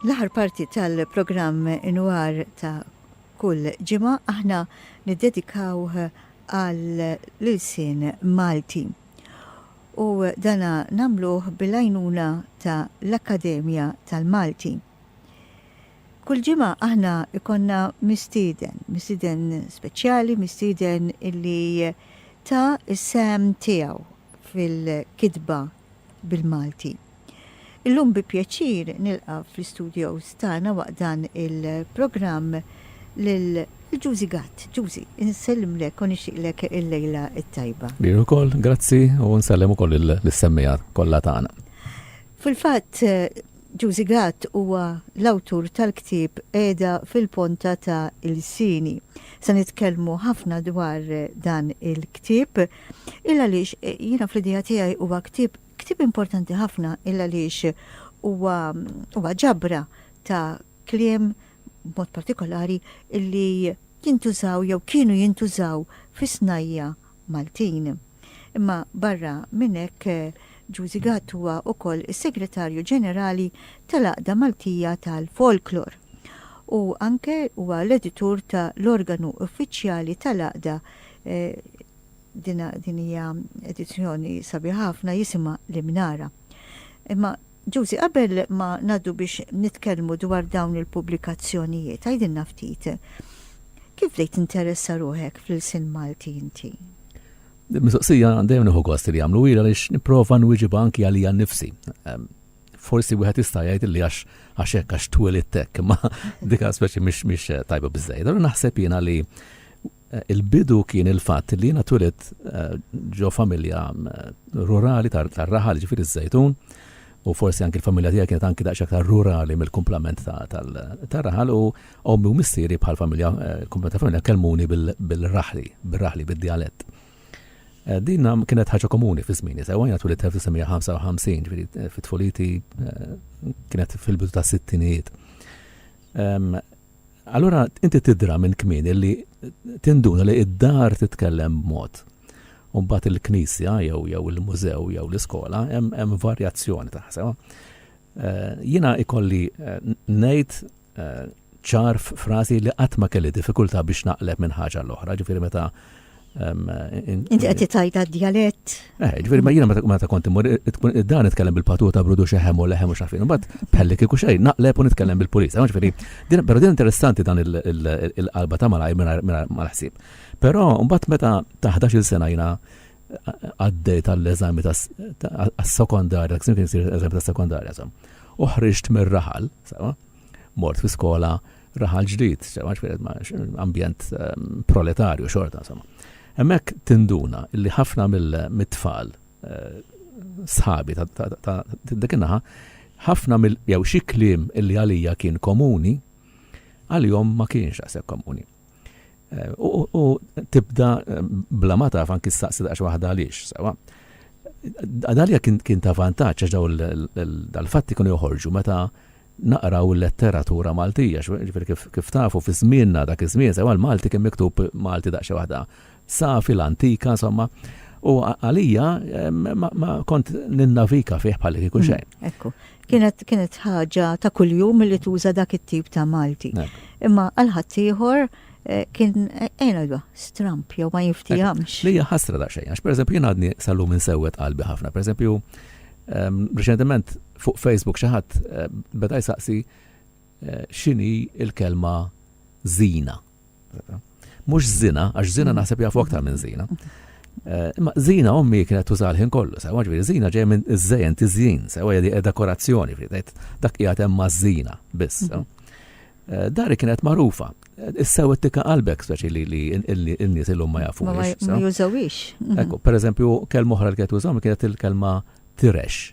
L-aħħar parti tal-programm Inwar ta' kull ġimgħa aħna niddedikawh għall-ilsien Malti. U dana nagħmluh bil-għajnuna ta' l-Akkademja tal-Malti. Kull ġimgħa aħna ikonna mistieden, mistieden speċjali, mistieden illi ta' is-sehem tiegħu fil-kitba bil-Malti. Illum bi pjaċir nilqa' fl-istudios tagħna waqt dan il-programm lil Ġużi Gatt. Ġużi, insellimlek u nixtieqlek il-lejla t-tajba. Lil ukoll, grazzi u nsellem ukoll lis-semmiegħa kollha tagħna. Fil-fatt, Juzi Gatt huwa l-awtur tal-ktieb Qiegħda fil-Ponta ta' Ilsini. Se nitkellmu ħafna dwar dan il-ktieb, il għaliex jiena fl-idea tiegħi huwa ktieb ktieb importanti ħafna il għaliex huwa huwa ġabra ta' kliem b'mod partikolari illi jintużaw jew kienu jintużaw fis-snajja' Maltin. Imma barra minn hekk, Ġużi Gatt huwa wkoll is-Segretarju Ġenerali tal-Għaqda Maltija tal-Folklor u anke huwa l-editur ta' l-organu uffiċjali tal-Għaqda din hija edizzjoni sabiħa ħafna jisimha L-Imnara. Imma Josie, qabel ma ngħaddu biex nitkellmu dwar dawn il-pubblikazzjonijiet, għidilna ftit, kif bdejt tinteressa ruħek fl-ilsien Malti inti? Din mistoqsija dejjem nieħu gost li jagħmlu ila għaliex nipprova nwieġibha anki għalija nnifsi. Ehm, forsi wieħed jista' jgħid li għax għax hekk għax twelid hekk, imma dik speċi mhix mhix eh, tajba biżejjed. Allura naħseb jiena li Il-bidu kien il-fatt li jiena twilit ġo familja rurali tar-raħal, jiġifieri ż-Żejtun, u forsi anki l-familja tiegħi kienet anki daqsxejn aktar rurali mill-kumplament tar-raħal u ommi u missieri bħal familja, il-kumplament tal-familja kellmuni bil-raħli, bir-raħli, bid-djalett. Din kienet ħaġa komuni fi żmieni sewwa, jiena twilit 1955, jiġifieri fi tfuliti kienet fil-bidu tas-sittinijiet. Allura inti tidra minn kmieni li tinduna li d-dar titkellem b'mod u mbagħad il-knisja jew jew il-mużew jew l-iskola hemm varjazzjoni ta' ħsema. Eh, jiena ikolli eh, ngħid eh, ċar frażi li qatt ma kelli diffikultà biex naqleb minn ħaġa l-oħra, ġifieri meta Inti qed tgħidha djalett. Eh, ġifieri ma jiena meta kont imur dan nitkellem bil-patuta brudu xeħem u leħem u xafin. Imbagħad pelli kieku xejn naqleb u nitkellem bil-pulis. Ġifieri, però din interessanti dan il-qalba ta' malaj mal-ħsieb. Però mbagħad meta ta' 11-il sena jiena għaddej tal-eżami tas-sekondarja, kien kien sir eżami tas-sekondarja, sam. Uħriġt mir-raħal, sawa? mort fi skola raħal ġdid, sewwa twieled ma' ambjent proletarju xorta insomma. Hemmhekk tinduna li ħafna mit-tfal sħabi ta' dik in-naħa ħafna mill jew xi kliem li għalija kien komuni għalihom ma kienx daqshekk komuni. U tibda bla ma taf anki staqsi daqs waħda għaliex, sewa. Għadalja kien ta' vantaġġ għax daw dal-fatti kienu joħorġu meta naqraw il-letteratura Maltija, ġifieri kif tafu fi żmienna dak iż-żmien sewa l-Malti kien miktub Malti daqs waħda Sa fil-antika, insomma, u għalija ma kont ninnavika fih bħal li kieku mm, xejn. Ekku, kienet kienet ħaġa ta' kuljum li tuża dak it-tip ta' Malti. Imma għal ħaddieħor eh, kien ejna eh, stramp jew ma jiftihamx. Li ħasra da xejn, għax pereżempju jien għadni sallu minn sewwet qalbi ħafna. Pereżempju, ehm, reċentement fuq Facebook xi ħadd eh, beda jsaqsi x'inhi il-kelma zina. Mhux żina, għax żina mm. naħseb jafu aktar minn żina. Eh, imma żina ommi kienet tuża l-ħin kollu, sewa ġifieri żina ġej minn iż-żejn tiżjin, sewa jedi dekorazzjoni, dak qiegħed hemm maż-żina biss. Mm-hmm. Eh, dari kienet marufa. Eh, Issew it-tika qalbek speċi li li n-nies illum ma jafu. Ma jużawix. Ekku, per eżempju, kelma oħra li kienet użaw kienet il-kelma tirex.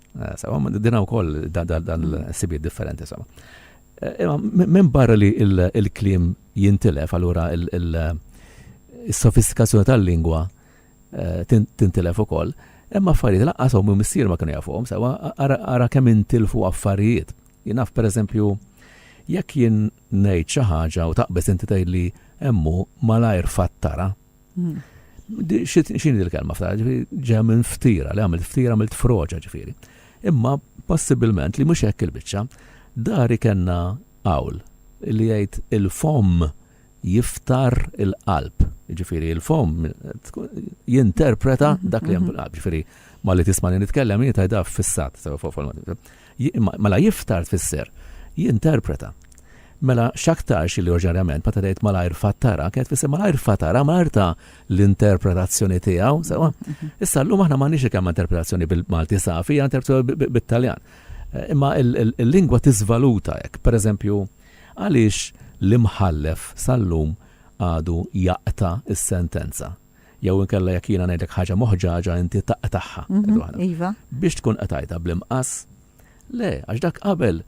Eh, sawa, dina u koll dan l-sibiet differenti, sawa. Eh, imma minn barra li il-klim jintilef, allura il-sofistikazzjoni tal-lingwa eh, tintilef u koll, imma affarijiet laqqas u missier ma kienu jafuhom, sawa, ara kemm intilfu affarijiet. Jinaf, per eżempju, jekk jien ngħid xi ħaġa u taqbeż inti tgħid li hemmu malajr fattara, X'inhi il-kelma f'tara, ġifieri ġeja minn ftira, li għamilt ftira għamilt froġa ġifieri. Imma possibilment li mhux hekk il-biċċa, dari kellna qawl li jgħid il-fomm jiftar il-qalb. Ġifieri il-fomm jinterpreta dak li hemm fil-qalb. Ġifieri ma li tisma' li nitkellem jien tgħidha fissat. Mela jiftar tfisser jinterpreta. Mela x'aktarx li oriġinarjament meta tgħid malajr fattara, kienet tfisser malajr fatara, malajr ta' l-interpretazzjoni tiegħu, sewa. Mhm. Issa llum aħna m'għandniex kemm interpretazzjoni bil-Malti safi, interpretazzjoni bit-Taljan. Eh, imma il-lingwa tiżvaluta hekk, pereżempju, għaliex l-imħallef sal-lum għadu jaqta' is-sentenza. Jew inkella jekk jiena ngħidlek ħaġa moħġaġa inti taqtagħha. Iva. Biex tkun qtajtha bl-imqas? Le, għax dak qabel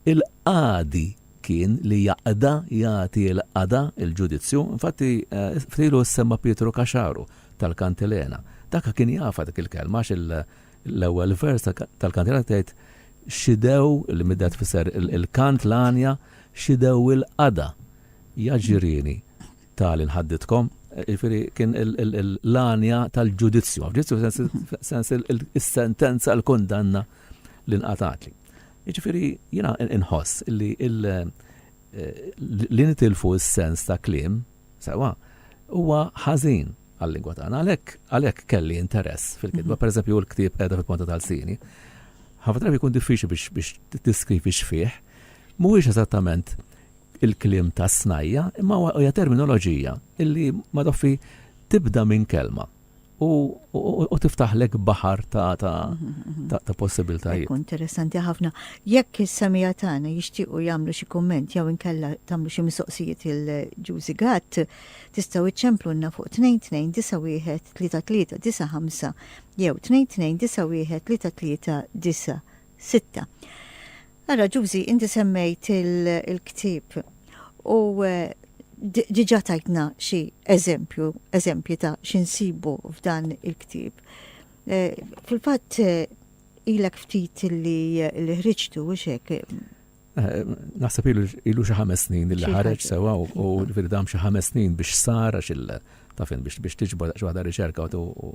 il-qadi kien li jaqda jagħti l-qada il-ġudizzju, infatti eh, ftilu semma Pietru Kaxaru tal-Kantilena. Dak kien jafa dik il-kelma għax l-ewwel vers tal-Kantilena tgħid xidew li middet fisser il-kant l-anja xidew il-qada jaġirini ta' li nħaddidkom, jiġifieri kien l-għanja tal-ġudizzju, ma' f'ġudizzju f'sens is-sentenza, il-kundanna li nqatgħatli. Jiġifieri jiena inħoss li li nitilfu s-sens ta' kliem, sewwa, huwa ħażin għal-lingwa tagħna. Għalhekk għalhekk kelli interess fil-kitba, mhm. pereżempju l-ktieb qiegħda fil-ponta tal-sini. Ħafna drabi jkun diffiċli biex tiskrivi x'fih, mhuwiex eżattament il-kliem tas-snajja' imma hija terminoloġija li madoffi tibda minn kelma u tiftaħlek baħar ta' possibiltajiet. Interessanti ħafna. Jekk is-semija tagħna jixtiequ jagħmlu xi kumment jew inkella tagħmlu xi mistoqsijiet il-Ġużi Gatt, tistgħu iċċemplunna fuq 2291 35 jew 2291 33 Sitta. Ara, Ġużi, inti semmejt il-ktieb u diġà tajtna xi eżempju, eżempji ta' xi nsibu f'dan il-ktieb. Fil-fatt ilek ftit li ħriġtu u xek Eh, naħseb ilu xi ħames snin li ħareġ sewa u ġifieri dam xi ħames snin biex sar għax il tafin biex biex tiġbor xi waħda riċerka u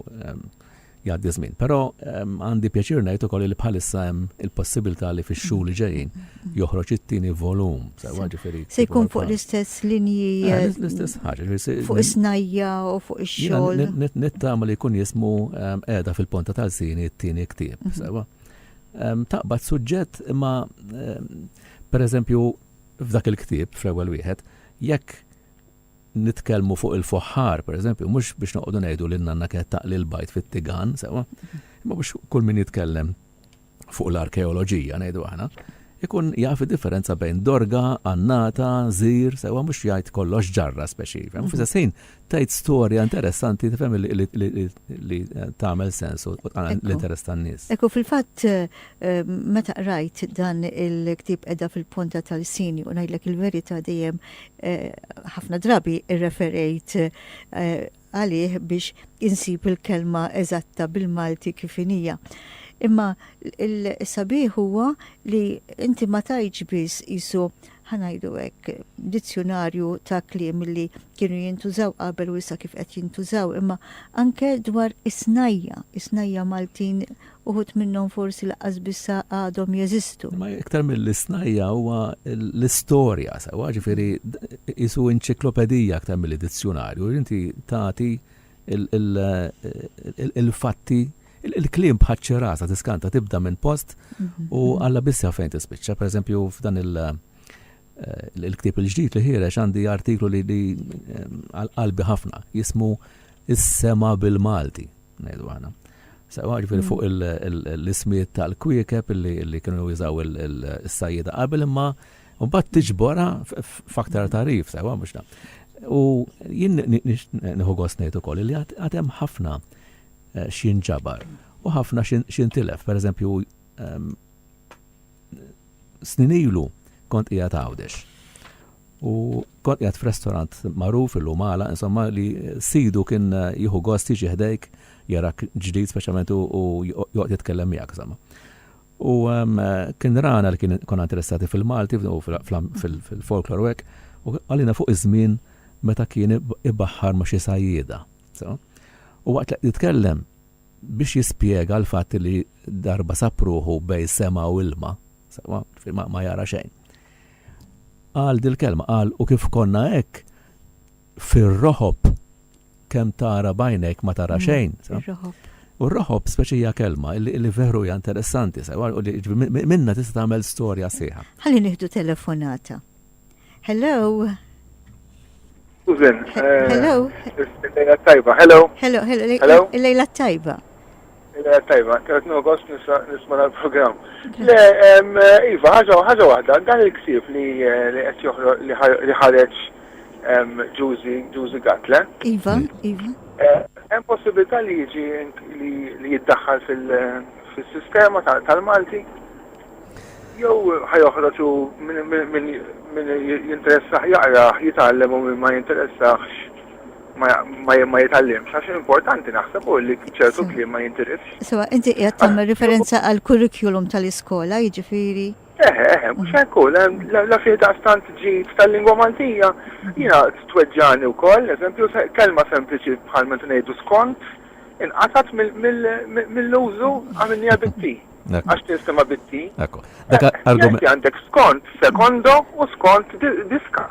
jgħaddi żmien. Però għandi pjaċir ngħid ukoll li bħalissa hemm il-possibilità li fix-xhur li ġejjin joħroġ it-tieni volum. Se jkun fuq l-istess linji. Eh, eh, l-istess ħaġa. Fuq is-snajja u fuq ix-xogħol. Nittama li jkun jismu qiegħda fil-ponta tal-sini t-tieni ktieb. Mhm. Sewa. taqbad suġġett imma pereżempju f'dak il-ktieb fl-ewwel wieħed jekk nitkellmu fuq il-foħħar, pereżempju, mhux biex noqogħdu ngħidu lil nanna kienet taqli l-bajt fit-tigan, sewa, imma biex kull min jitkellem fuq l-arkeoloġija ngħidu aħna, ikun jaf differenza bejn dorga, annata, zir, sewa mhux jgħid kollox ġarra speċi. F'istessin, tgħid storja interessanti tifhem li tagħmel sens u tqanqal l-interess tan-nies. Ekku fil-fatt eh, meta qrajt dan il-ktieb qiegħda fil-ponta tal-sini u ngħidlek il-verità dejjem eh, ħafna drabi irreferejt eh, għalih biex insib il-kelma eżatta bil-Malti kif inija. Imma il-sabiħ huwa li inti ma tajġ biss isu ħa ngħidu hekk, dizzjunarju ta' kliem li kienu jintużaw qabel u issa kif qed jintużaw, imma anke dwar is-snajja, is-snajja Maltin uħud minnhom forsi laqqas biss għadhom jeżistu. Imma iktar mill-isnajja huwa l-istorja sewwa, ġifieri qisu inċiklopedija aktar milli dizzjunarju, inti tagħti il-fatti, il-kliem bħal ċirasa tiskanta tibda minn post u għalla biss jaf fejn tispiċċa. Per eżempju, f'dan il- eh, il-ktib il-ġdid li ħirex għandi artiklu li eh, għal-qalbi ħafna jismu Is-sema bil-Malti, ngħidu għana. Sawa ġifiri fuq l-ismiet tal-kwiekeb li kienu jużaw il-sajjida qabel imma U bat tiġbora f'aktar tarif, sewa mhux ta'. U jien nieħu gost ngħid ukoll li għatem ħafna eh, x'jien ġabar u ħafna x'jien tilef. Per eżempju, ehm, snin ilu kont qiegħed għawdex. U kont qiegħed f'restorant magħruf illum għala, insomma li sidu kien eh, jieħu gost jiġi ħdejk jarak ġdid speċjalment u joqgħod jitkellem miegħek insomma. U kien rana li kien konna interessati fil-Malti u fil-folklor u hekk, u għalina fuq iż-żmien meta kien ibaħħar ma' xi sajjieda. U waqt li jitkellem biex jispjega l-fatt li darba sapruħu bej sema u ilma, ma jara xejn. Qal dil-kelma, qal u kif konna hekk, Fir-roħob, kemm tara b'għajnejk ma tara xejn. Ir-roħob. U r-roħob speċi hija kelma li veru hija interessanti, sewa, u li minna tista' tagħmel storja sieħa. Ħalli nieħdu telefonata. Hello. Susan. Eh, Hello. Lejla tajba. Hello. Hello, hello. Lejla tajba. Il-għad tajba, għad nugost nisma l-program. Le, Iva, ħagħa wahda, dan il-ksib li għed joħro li ħareċ Ġuzi Gatle. Iva, Iva. Hemm eh, possibilità li jiġi li jiddaħħal fil-sistema tal-Malti? Jew ħajoħroġu minn jinteressaħ jaqra, jitgħallem u minn ma jinteressaħx ma jitgħallimx, għax importanti naħseb u li ċertu kliem ma jintilifx. Sewa, inti qiegħed tagħmel referenza għal kurrikulum tal-iskola, jiġifieri. Eħe, eħe, mhux hekk hu, la fih daqstant ġid tal-lingwa Maltija, jiena tweġġani wkoll, eżempju, kelma sempliċi bħal meta ngħidu skont, inqatat mill-użu għamilnija bitti. Għax tinsema bitti. Ekku. Għandek skont sekondo u skont diska.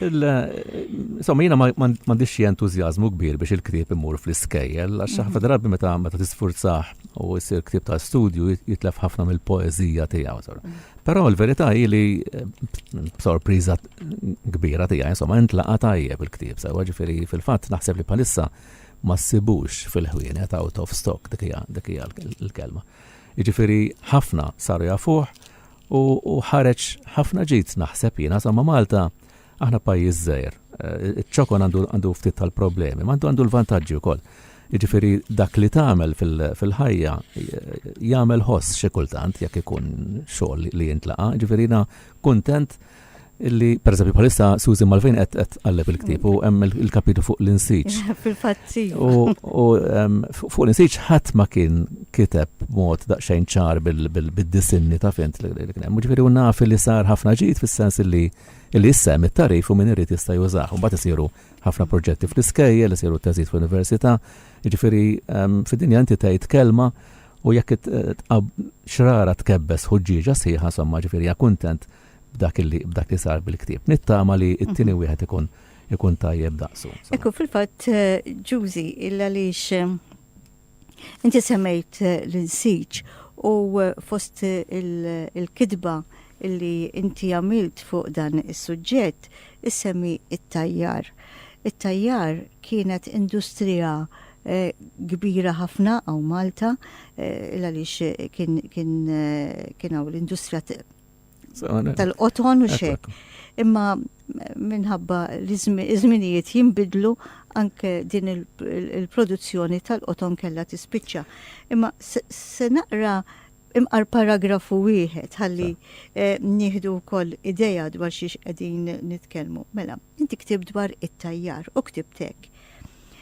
Insomma, jiena m'għandix xi entużjażmu kbir biex il-ktieb imur fl-iskejjel, għax ħafna drabi meta meta tisfurzah u jsir ktieb ta' studju jitlef ħafna mill-poeżija tiegħu. Però l-verità hi li b'sorpriża kbira tiegħi, insomma, intlaqa' tajjeb il-ktieb sewwa ġifieri fil-fatt naħseb li bħalissa ma ssibux fil-ħwienet out of stock dik hija l-kelma. Jiġifieri ħafna saru jafuh U, u ħareġ ħafna ġid naħseb jiena sa ma' Malta aħna pajjiż żgħir. Eh, iċ-ċokon għandu għandu ftit tal-problemi, ma għandu l-vantaġġi wkoll. Jiġifieri dak li tagħmel fil-ħajja jagħmel ħoss xi kultant jekk ikun xogħol li jintlaqa', jiġifieri kuntent Illi, per eżempju, bħalissa Susan Malvin qed qed tqalleb il-ktieb u hemm il-kapitu fuq l-insiġ. Fil-fatt U fuq l-insiġ ħadd ma kien kiteb mod daqsxejn ċar bil-disinni ta' fint li kien hemm. Ġifieri u naf li sar ħafna ġid fis-sens li li issa hemm it-tarif u min irid jista' jużah. Mbagħad isiru ħafna proġetti fl-iskejjel, isiru teżid fl-università. Ġifieri fid-dinja inti tgħid kelma u jekk xrara tkebbes ħuġġieġa sħiħa somma ġifieri kuntent b'dak li b'dak li sar bil-ktieb. Nittama li t-tieni wieħed ikun ikun tajjeb daqsu. Ekku fil-fatt Ġużi il għaliex inti semmejt l-insiġ u fost il-kitba illi inti għamilt fuq dan is-suġġett issemmi t-tajjar. It-tajjar kienet industrija kbira ħafna hawn Malta il għaliex kien hawn l-industrija tal-qoton u xek. Imma minħabba li żminijiet jinbidlu anke din il-produzzjoni tal-qoton kella tispiċċa. Imma se naqra imqar paragrafu wieħed ħalli eh, nieħdu wkoll ideja dwar xiex qegħdin nitkellmu. Mela, inti ktib dwar it-tajjar u ktibtek.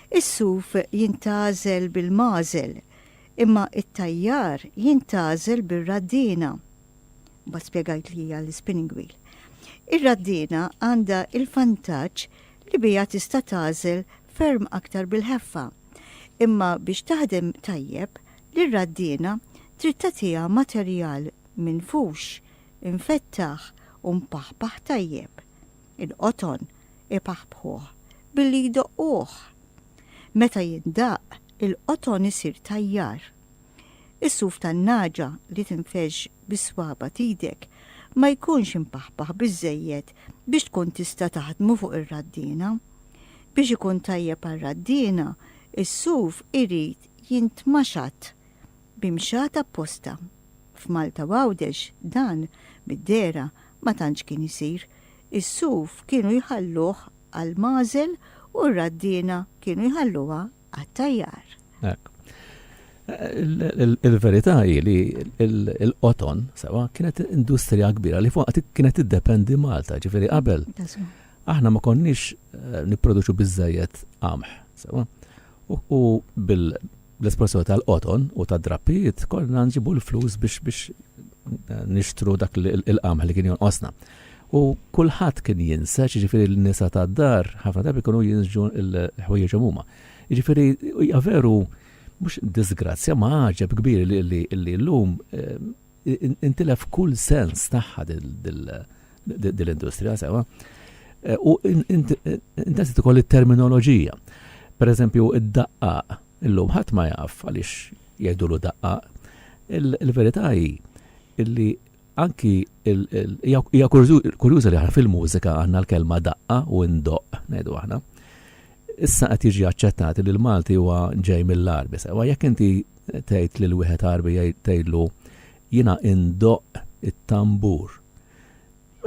Is-suf jintażel bil-mażel, imma it-tajjar jintażel bir-raddina. Mbagħad spjegajt li hija l-spinning wheel. Ir-raddiena għandha il-vantaġġ li biha tista' tagħżel ferm aktar bil-ħeffa. Imma biex taħdem tajjeb, lir-raddiena trid tagħtiha materjal minfux, imfettaħ u mpaħpaħ tajjeb. Il-qoton ipaħbħuh billi jdoqquh. Meta jindaqq, il-qoton isir tajjar. Is-suf tan-nagħġa li tinfexx bis-swaba' t'idek ma jkunx impaħpaħ biżżejjed biex tkun tista' taħdmu fuq ir-raddiena. Biex ikun tajjeb għar-raddiena, is-suf irid jintmaxat b'imxat apposta. F'Malta u Għawdex dan, mid-dehra, ma tantx kien isir. Is-suf kienu jħalluh għall-magħżel u r-raddiena kienu jħalluha għat-tajjar. Hekk. Il-verità hi li l-qoton, sewa, kienet industrija kbira li fuq kienet iddependi Malta, ġifieri qabel. Aħna ma konniex eh, nipproduċu biżejjed qamħ, sewa. U bil-espressjoni tal-qoton u tad-drappijiet kollha nġibu l-flus biex biex eh, nixtru dak il-qamħ li kien jonqosna. U kulħadd kien jinsex, jiġifieri n-nisa tad-dar ħafna drabi kienu jinsġu l-ħwejjeġhom huma. Jiġifieri hija veru mhux disgrazzja ma għaġeb kbir li llum intilef kull sens tagħha dil-industrija sewa. U intesset ukoll it-terminoloġija. Pereżempju, id-daqqaq illum ħadd ma jaf għaliex jgħidulu daqqaq. Il-verità hi li anki hija kurjuża li aħna fil-mużika għandna l-kelma daqqa u ndoqq ngħidu aħna. Issa qed jiġi aċċettat li l-Malti huwa ġej mill-Arbi. Sewa jekk inti tgħid lil wieħed Arbi tgħidlu jiena indoqq it-tambur.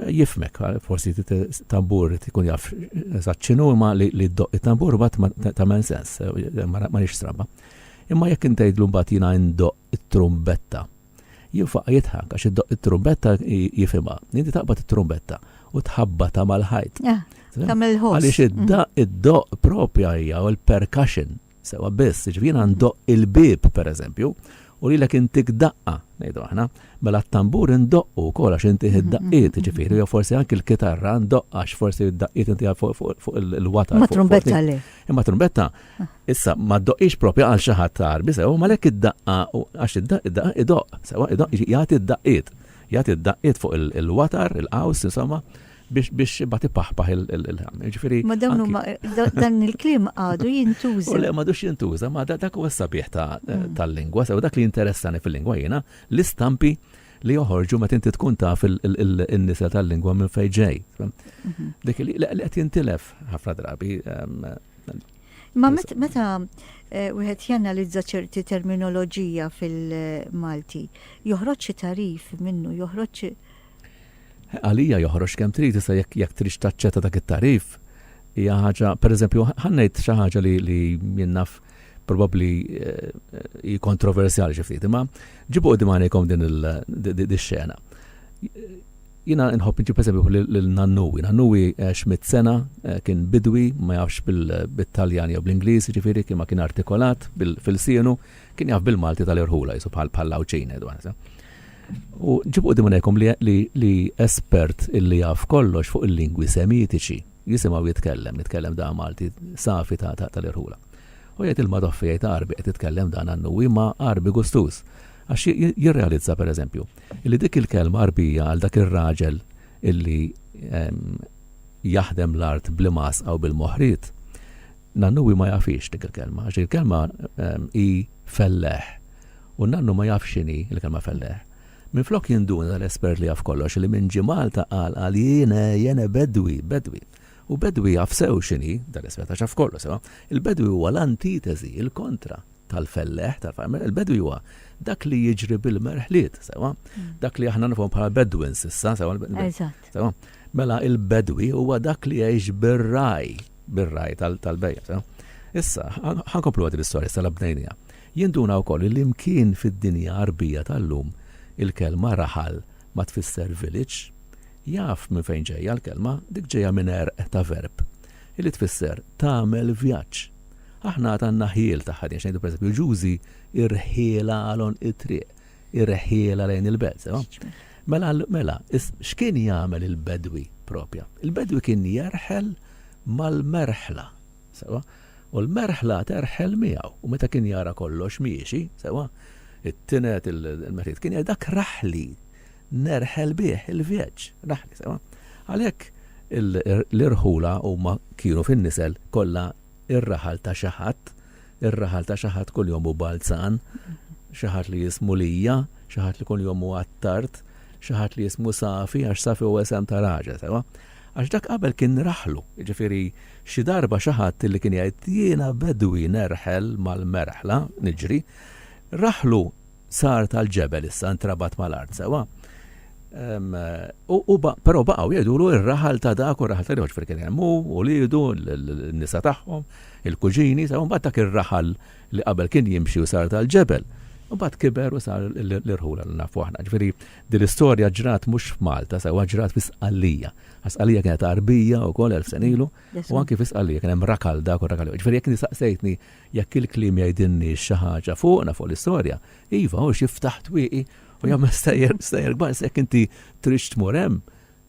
Jifmek, forsi tambur ikun jaf eżatt x'inhu imma li ddoqq it-tambur bat ta' men sens, ma nix stramba. Imma jekk intgħidlu mbagħad jiena indoqq it-trumbetta, Jinfaq jidħak għax iddoqq it-trumbetta jifhimha. Inti taqbad it-trumbetta u tħabbatha mal-ħajt. Ah, tagħmel il-ħoss. Għaliex id-daqq id-doqq propja hija u l-percussion sewwa biss, jiġifieri jiena ndoqq il-bieb pereżempju u lilek intik daqqa, ngħidu aħna, mela t-tambur indoqqu wkoll għax inti id-daqqiet, jiġifieri jew forsi anki l-kitarra ndaqqa għax forsi d-daqqiet inti fuq il-watar. Ma trumbetta le. Imma trumbetta Issa, ma doqix propja għal xi ħadd tarbi sew, ma lek id-daqqa, għax id-daqqa idoq, sewa idoq, jagħti d-daqqiet, jagħti d-daqqiet fuq il-watar, il-qaws, insomma, biex biex bat ipaħpaħ il-ħam. Ġifieri. Ma dawn huma dan il-kliem għadu jintuża. Le ma dux jintuża, ma dak huwa sabiħ mm. tal-lingwa, sew dak li interessani fil-lingwa jiena l-istampi li joħorġu meta inti tkun taf il-nisa tal-lingwa minn fejn ġej. Mhm. Dik li qed jintilef ħafna drabi ehm, Ma meta eh, wieħed janalizza ċerti terminoloġija fil-Malti, joħroġ xi tarif minnu, joħroġ għalija joħroġ kemm trid issa jekk jekk trid taċċetta dak it-tarif. Hija ħaġa, pereżempju, ħannejt xi ħaġa li li jinnaf probabbli eh, hi kontroversjali xi ftit, imma ġibu qudiem għalejkom din il-xena. Jiena inħobb inġib eżempju lil nannuwi. Nannuwi għex mitt sena, kien bidwi, ma jafx bit-Taljan jew bl-Ingliż, jiġifieri kien ma kien artikolat f'ilsienu, kien jaf bil-Malti tal-irħula, qisu bħall-Għawdxin ngħidu aħna. U ġibu quddiem għajnejkom li espert illi jaf kollox fuq il-lingwi Semitiċi, jisimgħu jitkellem, jitkellem dan Malti safi tal-irħula. U jgħid il-Madoffi jgħid Għarbi qed titkellem dan nannuwi, imma Għarbi gustuż. Għax jirrealizza, pereżempju, Illi dik il-kelma Għarbija għal dak ir-raġel illi jaħdem l-art bl-imgħasqa u bil-moħriet, nannu hi ma jafhiex dik il-kelma, għax dik il-kelma hi felleħ. U nannu ma jafx x'inhi l-kelma felleħ. Minflok jinduna dal-espert li jaf kollox li minn ġie Malta qal qal jien jien bedwi, bedwi. U bedwi jaf sew x'inhi dal-espert għax jaf kollox sewa. Il-bedwi huwa l-antiteżi, il-kontra tal-felleħ, tal-farmer, il-bedwi huwa dak li jiġri bil-merħliet, sewa? Dak li aħna nifhom bħala bedwins issa, sewa? Eżatt. Sewa? Mela il-bedwi huwa dak li jgħix bir-raj, bir-raj tal-bejja, sewa? Issa, ħankomplu għad l-istorja tal-abnejnija. Jinduna u koll li mkien fid-dinja arbija tal-lum il-kelma raħal ma tfisser village, jaf minn fejn ġejja l-kelma, dik ġejja minn erq ta' verb, illi tfisser tagħmel vjaġġ. Aħna għad għandna ħjiel ta' ħaddiema, x'ngħidu pereżempju Ġużi, irħielha għal għonq it-triq, irħielha lejn il-belt, sewa? Mela, mela, x'kien jagħmel il-bedwi propja? Il-bedwi kien jerħel mal-merħla, sewa? U l-merħla terħel miegħu, u meta kien jara kollox miexi, sewa? It-tinet, il-metit, kien jgħid dak raħli, nerħel bih il-vjeġġ, raħli, sewa? Għalhekk l-irħula huma kienu fin-nisel kollha ir-raħal ta' xi ħadd, ir-raħal ta' xi ħadd kuljum hu balzan, xi ħadd li jismu Lija, xi ħadd li kuljum hu għat-tard, xi ħadd li jismu Safi għax Safi hu isem ta' raġel, sewwa? Għax dak qabel kien raħlu, jiġifieri xi darba xi ħadd illi kien jgħid jiena bedwi nerħel mal-merħla, niġri, raħlu, sar tal-ġebel issa ntrabat mal-art sewa. Però baqgħu jgħidulu ir-raħal ta' dak u r-raħal ta' dak, kien hemm hu u lidu, n-nisa tagħhom, il-kuġini, sewa mbagħad dak ir-raħal li qabel kien jimxi u sar tal-ġebel. Mbagħad kiber u sar l-irħula li nafu aħna. Ġifieri din l-istorja ġrat mhux f'Malta, sewa ġrat fi Sqallija. Sqallija kienet arbija wkoll elf senilu u anki fi Sqallija kien hemm rakal dak u rakal. Ġifieri jekk nistaqsejtni Jekk il-kliem jgħidilniex xi ħaġa fuqna, fuq l-istorja, iva, hu jiftaħ twieqi u jagħmel stejjer kbar, issa jekk inti tridx tmur hemm,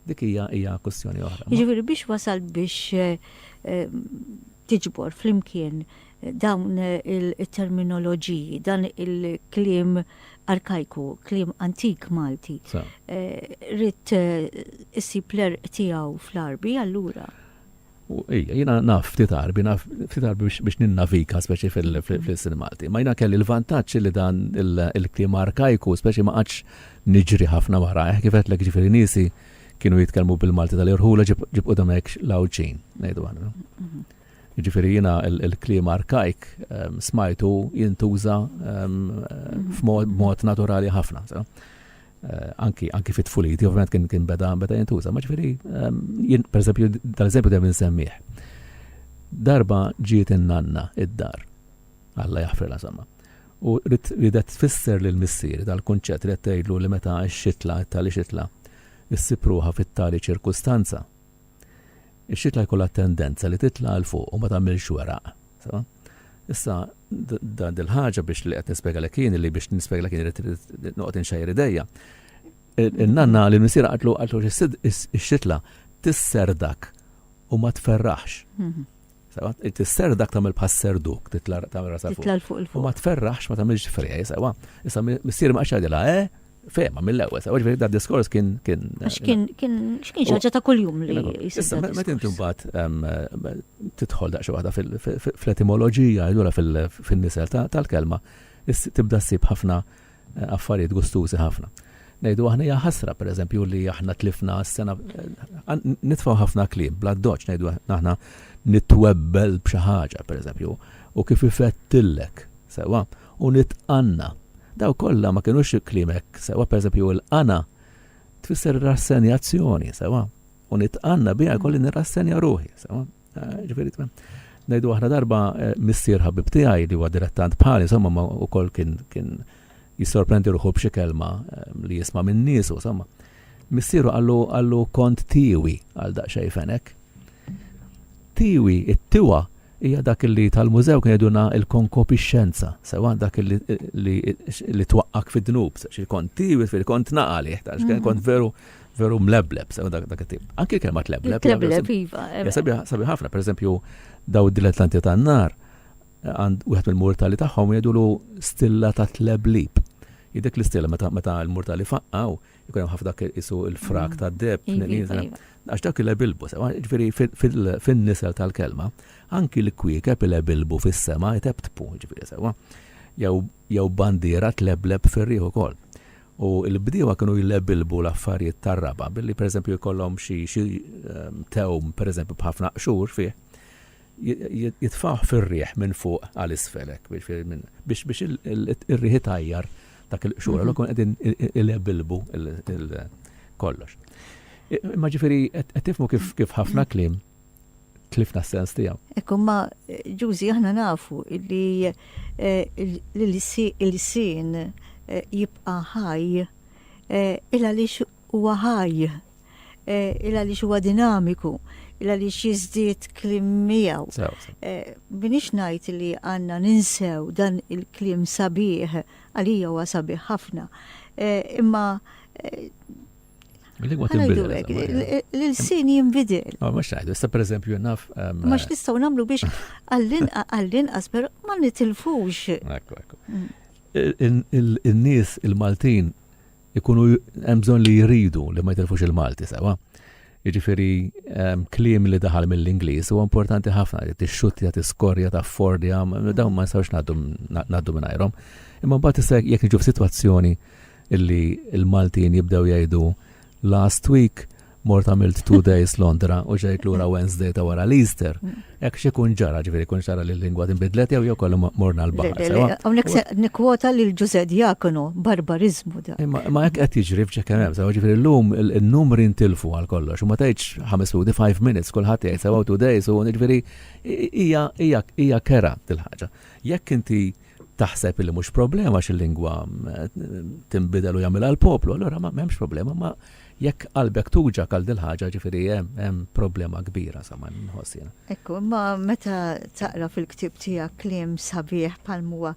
dik hija hija kwistjoni oħra. Jiġifieri biex wasalt biex tiġbor flimkien dawn it-terminoloġiji, dan il-kliem arkajku, kliem antik Malti, ridt issib l-għerq tiegħu fl-Għarbi allura? U ejja, jiena naf ftit Għarbi, naf ftit Għarbi biex ninnavika speċi fil-sin Malti. Ma jiena kelli l-vantaġġ li dan il-kliem arkajku speċi ma qatx niġri ħafna wara, eh, kif qedlek ġifieri niesi kienu jitkellmu bil-Malti tal-irħula ġib qudhom hekk l-Għawdxin, ngħidu aħna. Ġifieri jiena l-kliem arkajk ehm, smajtu jintuża ehm, f'mod naturali ħafna. Eh, anki anki fit tfuliti ovvjament kien kien beda beda jintuża, ma ġifieri ehm, jien pereżempju tal-eżempju dejjem insemmih. Darba ġiet in-nanna id-dar. Alla jaħfir la sama. U ridet tfisser lil missier dal-kunċett li tgħidlu li meta x-xitla tali xitla issipruha fit-tali ċirkustanza Ix-xitla jkollha tendenza li titla' 'l fuq u ma tagħmilx weraq. Sewa? Issa, dan dil-ħaġa biex li qed nispjegalek jien li biex nispjegalek jien irid noqgħod inxejjer idejja. In-nanna li missier qatlu qatlu ix-xitla tisserdak u ma tferraħx. Mhm. Sewa, tisser dak tagħmel bħas serduk, titla' tagħmel rasa fuq. Titla' fuq il-fuq. U ma tferraħx, ma tagħmilx ferja, sewa. Issa missier ma qaxadilha, eh? Fema mill-ewwel, sewa ġifieri da diskors kien kien. Għax kien kien x'kien xaġa ta' kuljum li Issa meta inti mbagħad tidħol daqsxi waħda fl-etimoloġija, allura fin-nisel tal-kelma, tibda ssib ħafna Affarijiet gustużi ħafna. Ngħidu aħna hija ħasra, pereżempju, li aħna tlifna s-sena. Nitfgħu ħafna kliem bl-addoċċ ngħidu aħna nitwebbel b'xi ħaġa, pereżempju, u kif ifettillek, sewwa, u nitqanna. Daw kollha ma kinux kliem hekk, sewwa, pereżempju, il-qana tfisser rassenjazzjoni, sewwa, u nitqanna biha jkolli nirrassenja ruħi, sewwa. Ġifieri ngħidu aħna darba eh, missier ħabib tiegħi li huwa dilettant bħali, insomma ma wkoll kien kien jissorprendi ruħu b'xi kelma eh, li jisma' minn nies u insomma. Missieru għallu għallu kont tiwi għal daqsxej fenek. Tiwi, it-tiwa hija dak li tal-mużew kien jgħiduna il-konkopi xenza, sewa dak li twaqqak fid-dnub, xi kont tiwi fil-kont naqali, kont mhm. veru veru mlebleb, sew dak dak it-tip. Anki kelma tlebleb. Tlebleb, iva. Sabi ħafna, per eżempju, daw id-dilettanti tan-nar, għand wieħed mill-mortali tagħhom jgħidulu stilla ta' tleblib. Idek l-istilla meta meta l-mortali faqqaw, ikun hemm ħafna dak isu il-frak ta' deb, mm. iva, iva, iva. għax dak il-ebilbu, ġifieri fin-nisel tal-kelma, anki l-kwiekeb il-ebilbu fis-sema jtebtbu, ġifieri sewa. Jew bandiera tlebleb fir-riħu kol. U l-bdiewa kienu jlebilbu l-affarijiet tar-raba' billi pereżempju jkollhom xi xi tewm pereżempju b'ħafna qxur fih, jitfgħuh fir-riħ minn fuq għal isfel hekk jiġifieri minn biex biex ir-riħ itajjar dak il-qxur, allura kienu qegħdin ilebilbu l-kollox. Imma ġifieri qed tifhmu kif kif ħafna kliem. tlifna s-sens tiegħu. Ekku ma ġużi aħna nafu li eh, l-sin eh, jibqa' ħaj eh, il għaliex huwa ħaj, il għaliex huwa dinamiku, il għaliex jiżdied klim miegħu. Minix ngħid li għandna ninsew dan il-klim sabiħ għalija huwa sabiħ ħafna. Imma Lingwa tinbidel. L-sin jinbidel. Ma mux taħdu, sta per eżempju naf. Ehm, ma nistaw namlu biex għall-inqas, per ma nitilfux. Ekku, ekku. Mm. Il-nis, il-Maltin, ikunu jemżon li jridu li ma jitilfux il-Malti, sawa? Iġifiri, ehm, klim li daħal mill-Inglis u importanti ħafna, t-xutja, t-skorja, ta' fordja, dawn ma nistawx naddu minn Imma bat jek nġu f-situazzjoni illi l-Maltin jibdew jgħidu last week mort għamilt two days Londra u ġejt lura Wednesday ta' wara l-Easter. Ek xikun ġara ġviri kun ġara li l-lingwa tinbidlet jew jew kollu morna l-bahar. Għonek se nikwota li l-ġuze diakonu barbarizmu da. Ma ek għet jġri fċekem hemm, sewa ġviri l-lum il-numri ntilfu għal kollox, u ma tajċ 5 minuti 5 minutes kullħat jgħid sewa two days u ġviri ija kera dil-ħagġa. Jekk inti taħseb li mhux problema għax il-lingwa tinbidel u jagħmilha l-poplu, allura ma m'hemmx problema, ma jekk qalbek tuġa għal dil ħaġa ġifieri hemm problema kbira sa ma nħossina. Ekku, ma meta taqra fil-ktib tiegħek kliem sabiħ bħal huwa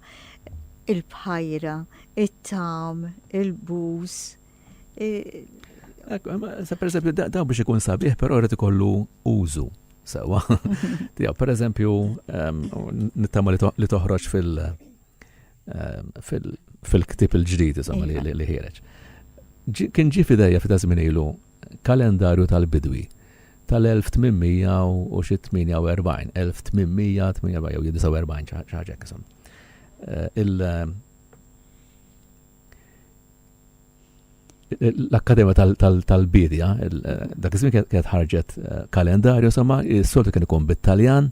il-bħajra, it-tam, il-bus, Sa per eżempju, daw biex ikun sabiħ, pero rrit ikollu użu. Sawa. Tija, per eżempju, nittama li toħroġ fil- fil-ktib il-ġdid, insomma, li ħireġ. Kien ġi fidejja fita żmien ilu kalendarju tal-bidwi tal-1848, 1848 jew 49 ċaġek, insomma. Eh, il- l-Akkademja tal-Bidja, dak iż-żmien kienet ħarġet eh, kalendarju, sama s-soltu kien ikun bit-Taljan,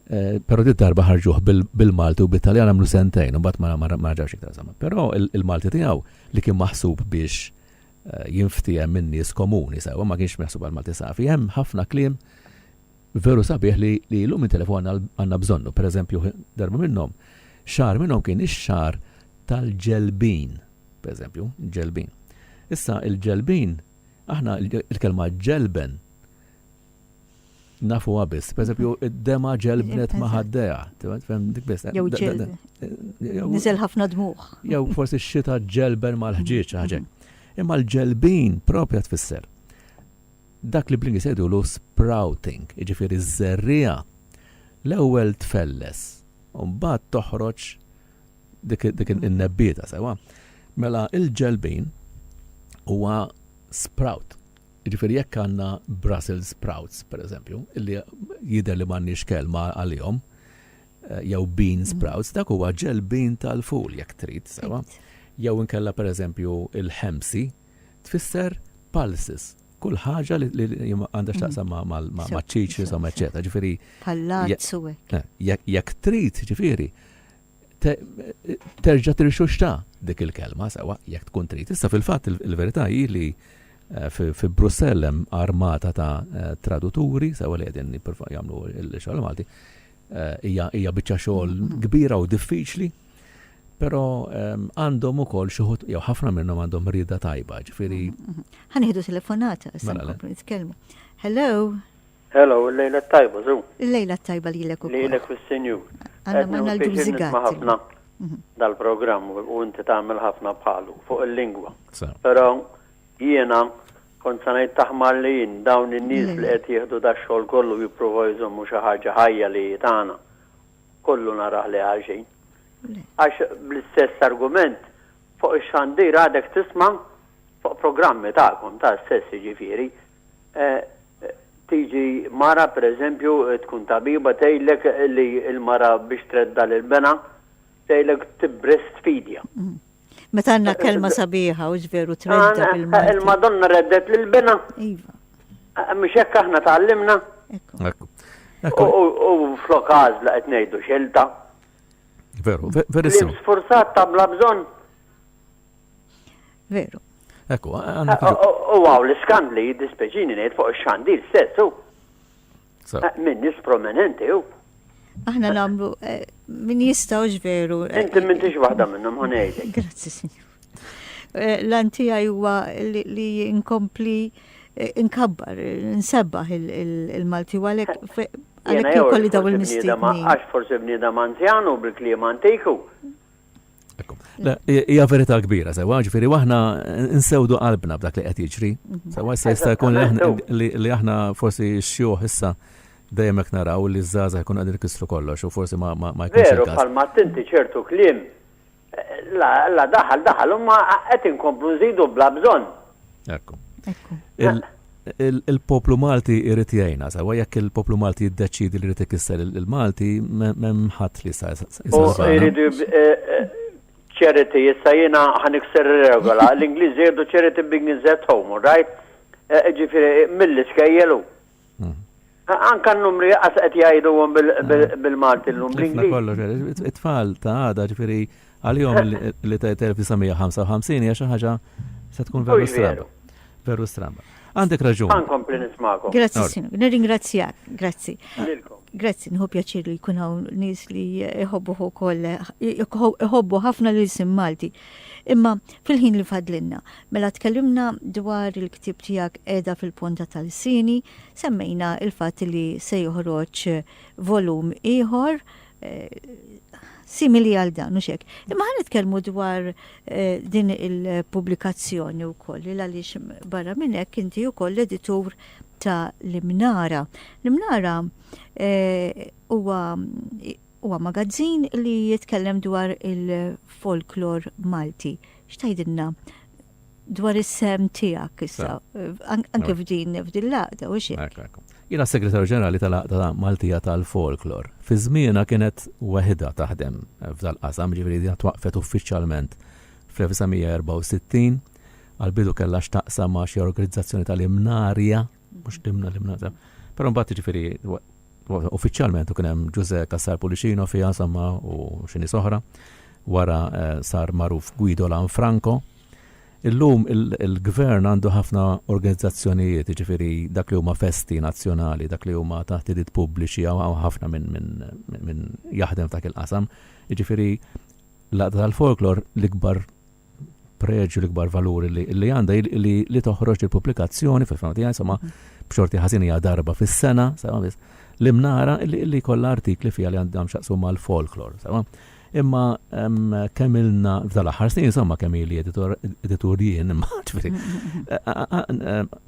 eh, pero dit darba ħarġuh bil-Malti u bit-Taljan għamlu sentejn, u bat ma ġawx iktar sama. Pero il-Malti tiegħu li kien maħsub biex eh, jinftiehem minn nies komuni, sewa ma kienx maħsub għal Malti safi, hemm ħafna kliem Veru sabiħ li li llum it-telefon għandna bżonnu, per eżempju darba minnhom xahar minnhom kien ix-xahar tal-ġelbin, per eżempju, ġelbin. Issa il-ġelbin aħna il-kelma ġelben nafuha biss, per eżempju id-dema ġelbnet ma' ħaddejha, tifhem dik biss. Jew ġel. Niżel ħafna dmugħ. Jew forsi x-xita ġelben mal-ħġieġ ħaġa. Imma l-ġelbin propja tfisser dak li bl-Ingliż jgħidulu sprouting, jiġifieri ż-żerriegħa l-ewwel tfelles u mbagħad toħroġ dik in-nebbieta, sewwa? Mela l-ġelbin huwa sprout. Jiġifieri jekk għandna Brussels sprouts, pereżempju, li jidher li m'għandniex kelma għalihom, eh, jew bean sprouts, dak huwa ġelbin tal-ful jekk trid, sewwa? Jew inkella pereżempju il-ħemsi, tfisser pulses, kull ħaġa li għandha x'taqsam maċ-ċiċ, insomma, eċċetera. Ġifieri. Pallazz u hekk. Eh, jekk trid, ġifieri, terġa' tirxuxta dik il-kelma sewa jekk tkun trid. Issa fil-fatt il-verità hi li eh, fi Brussell hemm armata ta' eh, traduturi sewa li qegħdin jagħmlu l-xogħol Malti. Hija biċċa xogħol kbira u diffiċli Però għandhom ukoll xi ħut jew ħafna minnhom għandhom rieda tajba, ġifieri. Ħa nieħdu telefonata, se mela, nkomplu nitkellmu. Hello. Hello, il-lejla tajba, zu. Il-lejla tajba li l-ek ukoll. Li l-ek fil-senju. Għanna manna l-għużigat. ħafna mhm. dal-programm u inti tagħmel ħafna bħalu fuq il-lingwa. Però jiena kont sanajt taħmar li jien dawn in-nies li qed jieħdu dax-xogħol kollu jippruvaw jżommu xi ħaġa ħajja li tagħna. kollu narah li għaxejn. Għax bl-istess argument fuq ix-xandir għadek tisma' fuq programmi tagħkom ta' sess jiġifieri tiġi mara pereżempju tkun tabiba tgħidlek li l-mara biex tredda lill-bena tgħidlek tbreastfeedja. Meta għandna kelma sabiħa u ġveru tredda bil-Malti. Il-Madonna reddet lil bina. Iva. Mhux hekk aħna tgħallimna. Ekku. U flok għażla qed ngħidu xelta. Veru, verissimo. Sforzat ta' bla bżonn. Veru. Ekku, għandna. U għaw l-iskandli jiddispeċini ngħid fuq ix-xandir stessu. Min nis prominenti u. Aħna namlu eh, min jistaw ġveru. Eh, Inti minn tix waħda minnhom ħanejlek. Grazzi, sinjur. Eh, L-anti huwa li inkompli inkabbar, nsebbaħ il-Malti u għalek għalek kolli daw il-mistidni. Għax forse bniedem anzjanu bil-kliem antiku. Hija verità kbira, sewa, ġifieri aħna nsewdu qalbna b'dak li qed jiġri. Mhm. Sewa issa jista' jkun li aħna forsi xjuħ issa dejjem hekk naraw li ż-żgħażagħ jkun qegħdin ikissru kollox u forsi ma jkunx. Veru bħalma tinti ċertu kliem la daħal daħal u ma qed inkomplu nżidu bla bżonn. Ekku. Il-poplu Malti jrid jgħinna sewwa. Jekk il-poplu Malti jiddeċiedi li jrid ikisser il-Malti, m'hemm ħadd li jista' jsalvana. Iridu charity, issa jiena ħanikser regola. L-Ingliżi jgħidu charity begins at home, right? Ġifieri mill-iskejjel hu. Anka n-numri qas qed jgħiduhom bil-Malti llum, bl-Ingliż. Tifna kollox, it-tfal ta' għada, ġifieri għalihom li tgħid 1955 hija xi ħaġa se tkun veru stramba. Veru stramba. Għandek raġun. Ħa nkompli nismakom. Grazzi, Sinjur. Nirringrazzjak. Grazzi. Lilkom. Grazzi, nħu pjaċir li jkun hawn nies li jħobbu ukoll jħobbu ħafna lil sim Malti. Imma fil-ħin li fadlinna, mela tkellimna dwar il-ktib tiegħek qiegħda fil-ponta tal-sini, Semmejna l-fatt li se joħroġ volum ieħor simili għal dan, u xek. Imma ħan nitkellmu dwar eh, din il-publikazzjoni u koll, li għaliex barra minnek inti u koll editur ta' l-imnara. L-imnara eh, huwa huwa magazzin li jitkellem dwar il-folklor Malti. Xtajdinna dwar is-sehem tiegħek issa, anke f'din f'din l-għaqda, u x'hekk. Jiena s-Segretarju Ġenerali tal-Għaqda Maltija tal-Folklor. Fi żmienha kienet weħidha taħdem f'dal-qasam, ġifieri din twaqqfet uffiċjalment fl-1964. Għall-bidu kellha x'taqsam ma' xi organizzazzjoni tal-imnarja. mhux dimna li mnata. Però mbagħad ġifieri uffiċjalment u kien hemm Ġużè Kassar Pulicino fiha insomma u xi nies oħra. Wara eh, sar magħruf Guido Lanfranco. Illum il-gvern għandu ħafna organizzazzjonijiet, ġifiri dak li huma festi nazzjonali, dak li huma taħtidit pubbliċi, għaw ħafna minn jaħdem dak il-qasam. Ġifiri, laqda tal-folklor l-ikbar preġju l-ikbar valuri li li għandha li li toħroġ il-pubblikazzjoni fil-fema tiegħi insomma b'xorti ħażin hija darba fis-sena, sewa biss, li mnara li li kollha artikli fiha li għandhom xaqsu mal-folklor, sewa. Imma kemm ilna f'dal-aħħar snin insomma kemm ili editur jien imma ġifieri.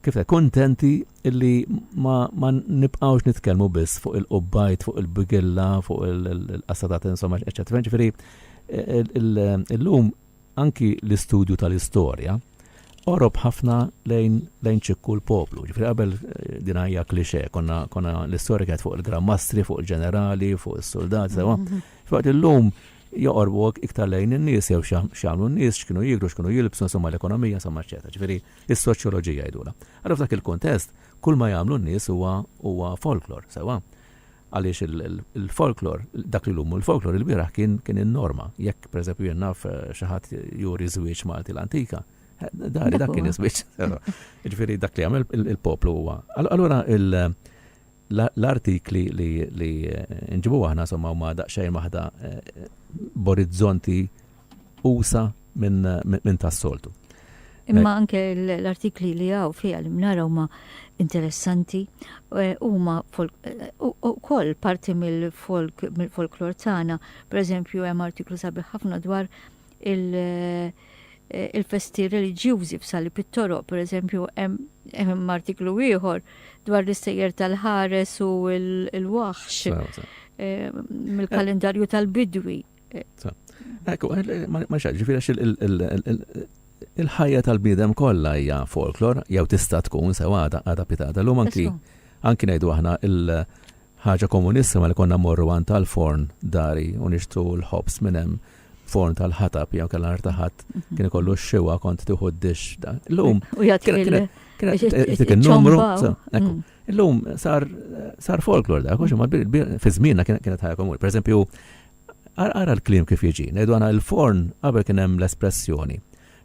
Kif kontenti li ma nibqgħux nitkellmu biss fuq il-qubbajt, fuq il-bigilla, fuq il-qasadat insomma eċċetera. Ġifieri Illum anki l-istudju tal-istorja qorob ħafna lejn lejn ċikku l-poplu. Ġifieri qabel din hija klixè, konna konna l-istorja kienet fuq il-grammastri, fuq il-ġenerali, fuq is-suldati, sewa. Faqt illum joqorbu iktar lejn in-nies jew x'jagħmlu n-nies, x'kienu jieklu, x'kienu jilbsu, insomma l-ekonomija, insomma eċċetera. Ġifieri is-soċjoloġija jgħidulha. Allura f'dak il-kuntest kull ma jagħmlu n-nies huwa huwa folklor, sewa. Għaliex il-folklor, dak li llum hu l-folklor, ilbieraħ kien kien in-norma. Jekk, pereżempju, jien naf xi ħadd juri żwieġ Malti l-antika, dari dak kien iż-żwieġ. Jiġifieri dak li jagħmel il-poplu huwa. Allura l-artikli li nġibu aħna somma huma daqsxejn waħda b'orizzonti usa' minn tas-soltu. Imma anke l-artikli li hawn fiha li nara huma interessanti huma wkoll parti mill-folk mill-folklor tagħna. Pereżempju hemm artiklu sabiħ ħafna dwar il-festi reliġjużi f'Sali Pittoro, pereżempju hemm artiklu ieħor dwar l-istejjer tal-ħares u l-waħx mill-kalendarju tal-bidwi. Ekku, eh, ma xaġi, firax il-ħajja tal-bidem kollha hija folklor, jew tista' tkun sewa għada pitata. L-lum anki anki ngħidu aħna il-ħaġa komunissima li konna morru għan tal-forn dari u nixtru l-ħobs minn hemm forn tal-ħatab jew kellha artaħat mhm. kien ikollu x-xiwa kont tieħu d-dix. L-lum. U jgħid il-numru. Mm. Illum sar sar folklor dak, għax imma fi żmienna kienet ħajja komuni. Pereżempju, ara l-kliem kif jiġi, ngħidu għana il-forn qabel kien hemm l-espressjoni.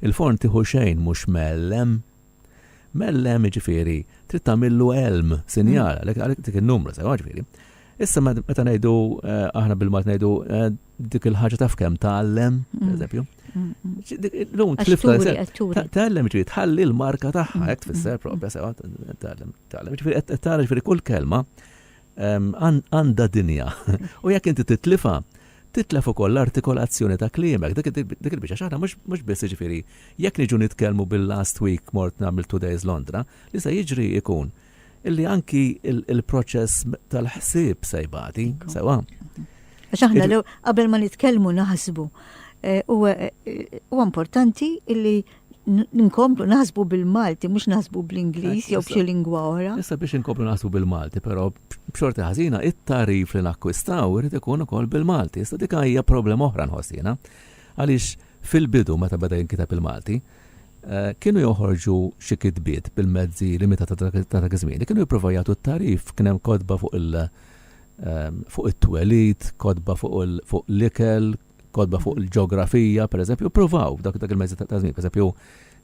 Il-forn tieħu xejn mhux mellem. Mellem ġifieri trid tagħmillu elm sinjal għalhekk dik in-numru sewa ġifieri. Issa meta ngħidu eh, aħna bil-mat ngħidu eh, dik il-ħaġa taf kemm tgħallem, mm. pereżempju. Lum tlifta tgħallem ġifieri tħalli l-marka tagħha hekk tfisser propja sewa tgħallem tgħallem. Ġifieri qed tara ġifieri kull kelma għandha dinja. U jekk inti titlifa, titlef ukoll l-artikolazzjoni ta' kliemek, dik il-biċċa xaħna mhux biss ġifieri jekk niġu nitkellmu bil-last week mort nagħmel two days Londra, li se jiġri ikun illi anki il-proċess tal-ħsieb se jbati, sewa. Għax aħna l qabel ma nitkellmu naħsbu. Eh, u eh, eh, importanti illi nkomplu naħsbu bil-Malti, mux naħsbu bl-Inglis, jew b'xi lingwa oħra. Issa biex nkomplu naħsbu bil-Malti, pero b'xorti ħażina it-tarif li nakkwistaw irid ikun ukoll bil-Malti. Issa dik hija problema oħra nħossina. Għaliex fil-bidu meta beda jinkitab il-Malti, kienu joħorġu xi kitbiet bil-mezzi limitati ta' dak iż-żmien li kienu jippruvaw jagħtu t-tagħrif. Kien hemm kotba fuq il- ehm, fuq it-twelid, kotba fuq fuq l-ikel, kotba fuq il-ġeografija, pereżempju, pruvaw dak dak il-mezzi ta' żmien, pereżempju,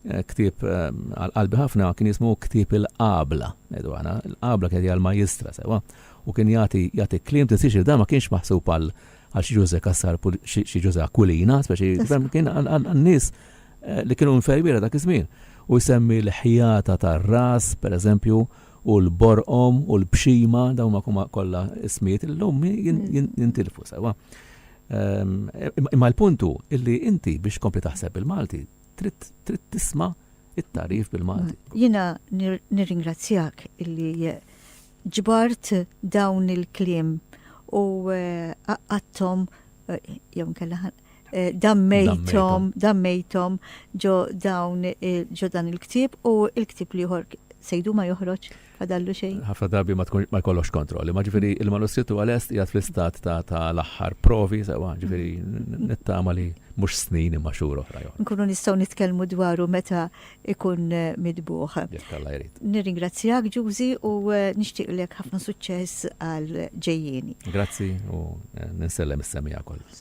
eh, ktieb ehm, għal qalbi ħafna kien jismu ktieb il-qabla, ngħidu għana, il-qabla kien għal majistra sewa, u kien jagħti jagħti kliem tisir da ma kienx maħsub għal għal xi ġuże kassar xi ġuże akulina, speċi kien għan-nies li kienu infermiera dak iż-żmien, u jsemmi l-ħjata tar-ras, pereżempju, u l-borqom u l-bxima, dawn huma kollha ismijiet li llum jintilfu, sewwa. Imma l-punt hu li inti biex tkompli taħseb bil-Malti trid tisma' t-tagħrif bil-Malti. Jiena nirringrazzjak li ġbart dawn il-kliem u qaqqadthom jew inkella Eh, dammejtom, dammejtom ġo dawn eh, ġo dan il-ktib u il-ktib liħor sejdu ma joħroġ fadallu xejn. Ħafna darbi ma tkun ma jkollokx kontrolli, ma ġifieri mm. il-manuskrittu għal-est jgħat fl-istat ta' l-aħħar provi sewa, ġifieri mm. nittama li mhux snin imma xhur oħra. Nkunu nistgħu nitkellmu dwaru meta ikun eh, midbuħ. Nirringrazzjak Ġużi u nixtieqlek ħafna suċċess għal ġejjieni. Grazzi u ninsellem is-semija kollu.